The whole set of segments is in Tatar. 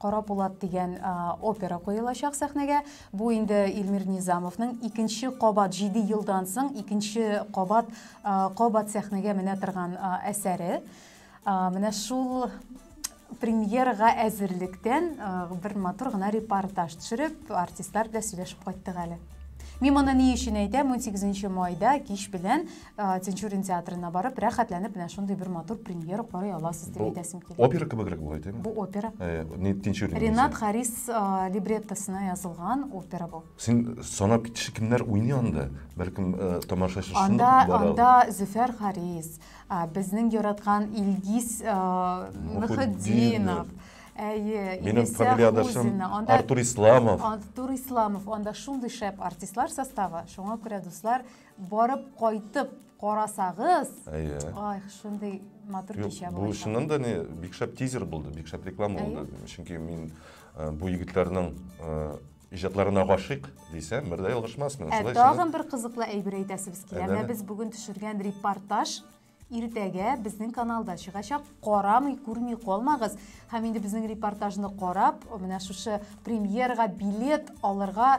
Кара Пулат дигән опера куелачак сәхнәгә. Бу инде Илмир Низамовның икенче кабат 7 елдан соң икенче кабат кабат сәхнәгә менә торган әсәре. Менә шул премьерага әзерлектән бер матур гына репортаж төшереп, артистлар белән сөйләшеп кайттык әле. Мин моны ни өчен әйтәм, 18 майда кич белән Э, Тинчурин театрына барып, рәхәтләнеп менә шундый бер матур премьера карый аласыз дип әйтәсем килә. Опера кебегрәк була әйтәме? Бу опера. Э, не Тинчурин. Ренат Харис э, либреттосына язылган опера бу. Син санап китеше кемнәр уйный анда? Бәлкем тамашачы шундый Анда анда Зөфәр Харис, безнең яраткан Илгиз Мөхетдинов. Әйе, Минем фамилиядашым Артур Исламов. Артур Исламов, анда шундый шәп артистлар составы, шуңа күрә дуслар, Барып кайтып карасагыз. Әйе. Ай, шундый матур кичә булды. Бу чыннан да не бик шәп тизер булды, бик шәп реклама булды. Чөнки мин э, бу егетләрнең э, иҗатларына гашыйк дисәм, бер дә ялгышмасмын. Ә тагын бер кызыклы әйбер әйтәсебез килә. Менә без бүген төшергән репортаж иртәгә безнең каналда чыгачак. Карамый, күрми калмагыз. Һәм инде безнең репортажны карап, менә шушы премьерга билет алырга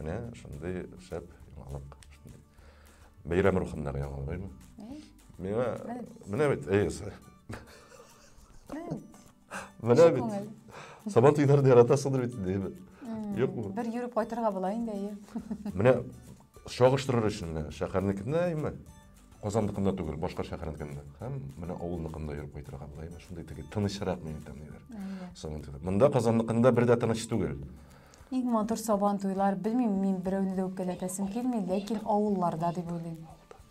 Менә шундый шәп яңалык. Бәйрәм рухындагы яңалык, әйме? Миңа, менә бит, әйесе. Менә бит. Сабан туйларды яратасыңдыр бит, әйме? Юк бу. Бер йөреп кайтырга була инде, әйе. Менә чагыштырыр өчен менә шәһәрнекендә, әйме? Казанныкында түгел, башка шәһәрнекендә. Һәм менә авылныкында йөреп кайтырга була, әйме? Шундый теге тынычрак мин әйтәм, ниләр. Сабан туйлар. Монда Казанныкында бер дә тыныч түгел. Иң матур сабан туйлар, белмим, мин берәүне дә үпкәләтәсем килми, ләкин авылларда дип уйлыйм.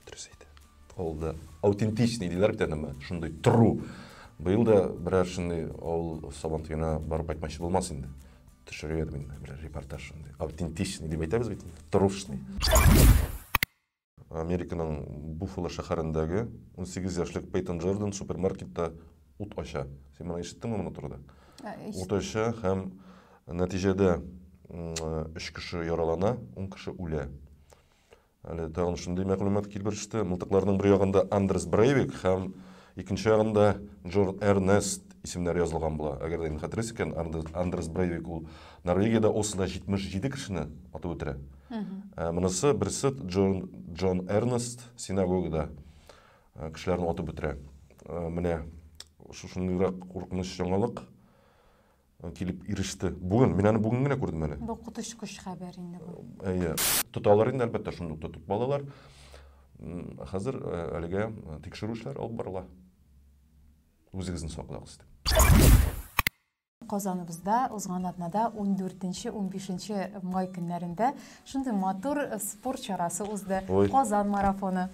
Дөрес әйтә. Авылда аутентичный диләр бит әнеме, шундый тору. Быел да берәр шундый авыл сабан туена барып кайтмакчы булмас инде. Төшерер идем инде берәр репортаж шундый. Аутентичный дип әйтәбез бит инде. Торушный. Американың Буффало шәһәрендәге унсигез яшьлек Пейтон Джордан супермаркетта ут ача. Син моны ишеттеңме моны турыда? Ә, ут ача һәм нәтиҗәдә өч кеше яралана, ун кеше үлә. Әле тагын шундый мәгълүмат килеп иреште. Мылтыкларның бер ягында Андрес Брейвик һәм Икенче ягында Джор Эрнест исемнәре язылган була. Әгәр дә мин хәтерлисем икән, Андерс Брейвик ул Норвегиядә Ослода 77 кешене атып үтерә. Ә монысы берсе Джон, Джон Эрнест синагогада э, кешеләрне атып үтерә. Э, менә шушындыйрак куркыныч яңалык. килеп иреште. Бүген, мин аны бүген генә күрдем әле. Бу коточкыч хәбәр инде бу. Әйе. Тоталар инде, әлбәттә, шундый ук тотып балалар. Хәзер э, әлегә э, тикшерү эшләре алып барыла. Үзегезне саклагыз дип. Казаныбызда узган атнада 14-15 май көннәрендә шундый матур э, спорт чарасы узды. Казан марафоны.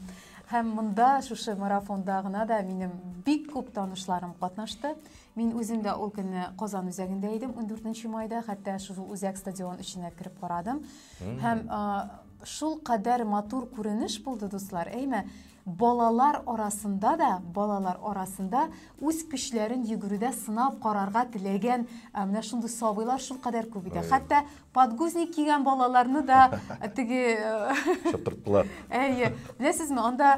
Һәм монда шушы марафонда гына да минем бик күп танышларым катнашты. Мин үзем дә ул көнне Казан үзәгендә идем, ундүртенче майда, хәтта шул үзәк стадион эченә кереп карадым. Һәм шул кадәр матур күренеш булды, дуслар, әйме? Балалар арасында да, балалар арасында үз көчләрен йөгерүдә сынап карарга теләгән менә шундый сабыйлар шул кадәр күп иде. Хәтта подгузник кигән балаларны да теге шаптырттылар. Әйе. Беләсезме, анда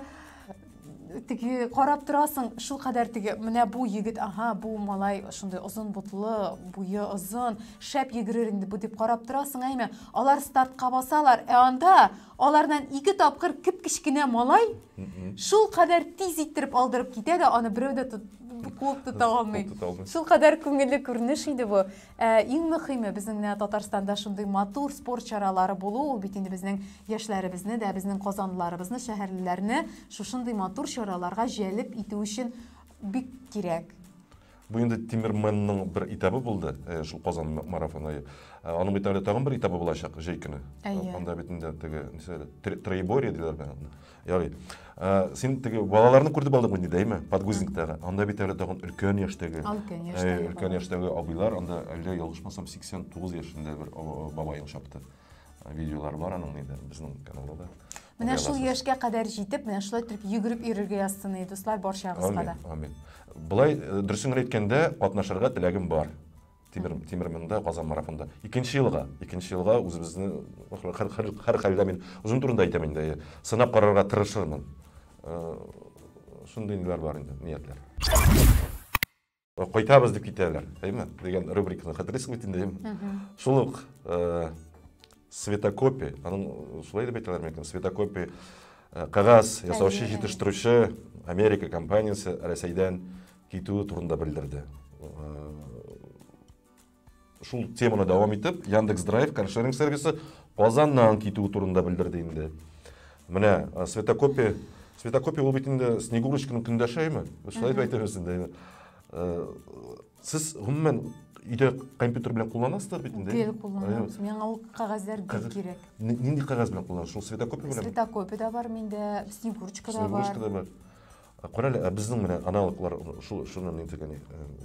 теге карап торасың шулкадәр теге менә бу егет ага бу малай шундый озын бутлы буе озын шәп йөгерер инде бу дип карап торасың әйме алар стартка басалар ә анда алардан ике тапкыр кеп кечкенә малай шулкадәр тиз иттереп алдырып китә дә аны берәү дә куып тота алмый шулкадәр күңелле күренеш иде бу Ә иң мөхиме безнең менә Татарстанда шундый матур спорт чаралары булу, ул бит инде безнең яшьләребезне дә, безнең казанлыларыбызны, шәһәрлеләрне шушындый матур чараларга җәлеп итү өчен бик кирәк. Бу инде Тимерменның бер этабы булды, э, шул Казан марафоны. Э, аның бит әле тагын бер этабы булачак җәй көне. Әйе. Анда бит инде теге, нисә, троеборье диләр бит аны. Ярый. Ә, син теге балаларны күрдеп алдың инде, әйме? Подгузниктагы. Анда бит әле тагын өлкән яшьтәге. Өлкән яшьтәге. Өлкән яшьтәге абыйлар, анда әллә ялгышмасам 89 яшендә бер бабаең чапты. Видеолар бар аның инде безнең каналда да. Менә шул яшькә кадәр җитеп, менә шулай торып йөгереп йөрергә язсын, дуслар, барчагызга да. Амин. Амин. Былай э, дөресен генә әйткәндә, катнашырга теләгем бар. Тимер, тимер монда, Казан марафонда. Икенче елга, икенче елга үзебезне хәр, хәр, хәр хәлдә мин озын турында әйтәм инде, сынап карарга тырышырмын. Э, шундый ниләр бар инде, ниятләр. Кайтабыз дип китәләр, әйме? Дигән рубриканы хәтерлисең бит инде, әйме? Шул ук э, светокопия, аның шулай дип әйтәләр микән? Светокопия э, кагаз ясаучы, җитештерүче Америка компаниясе Рәсәйдән китүе турында белдерде шул теманы дәвам итеп яндекс драйв каршеринг сервисы казаннан китү турында белдерде инде менә светокопия светокопия ул бит инде снегурочканың көндәшеме шулай дип әйтәбез инде сез гомумән өйдә компьютер белән кулланасыздар бит инде гел кулланабыз миңа ул кәгазьләр бик кирәк нинди кәгазь белән кулланасыз шул светокопия белән светокопия да бар миндә снегурочка да бар снегурочка да бар Ә карале, ә безнең менә аналоглар шул шуны ни дигән,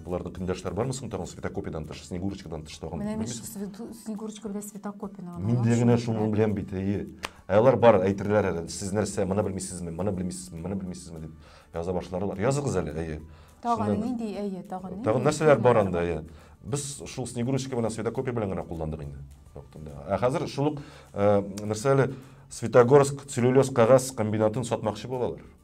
буларда көндәшләр бармы соң тагын светокопидан тыш, снегурочкадан тыш тагын? Менә мин снегурочка белән светокопияне Мин дә генә шуны беләм бит, әйе. Ә алар бар, әйтерләр әле, сез нәрсә, моны белмисезме, моны белмисезме, моны белмисезме дип яза башларлар. Языгыз әле, әйе. Тагын нинди, әйе, тагын нинди? Тагын нәрсәләр бар анда, әйе. Без шул снегурочка белән светокопия белән генә кулландык инде вакытында. Ә хәзер шул ук нәрсә әле Светогорск целлюлез кагаз комбинатын сатмакчы булалар.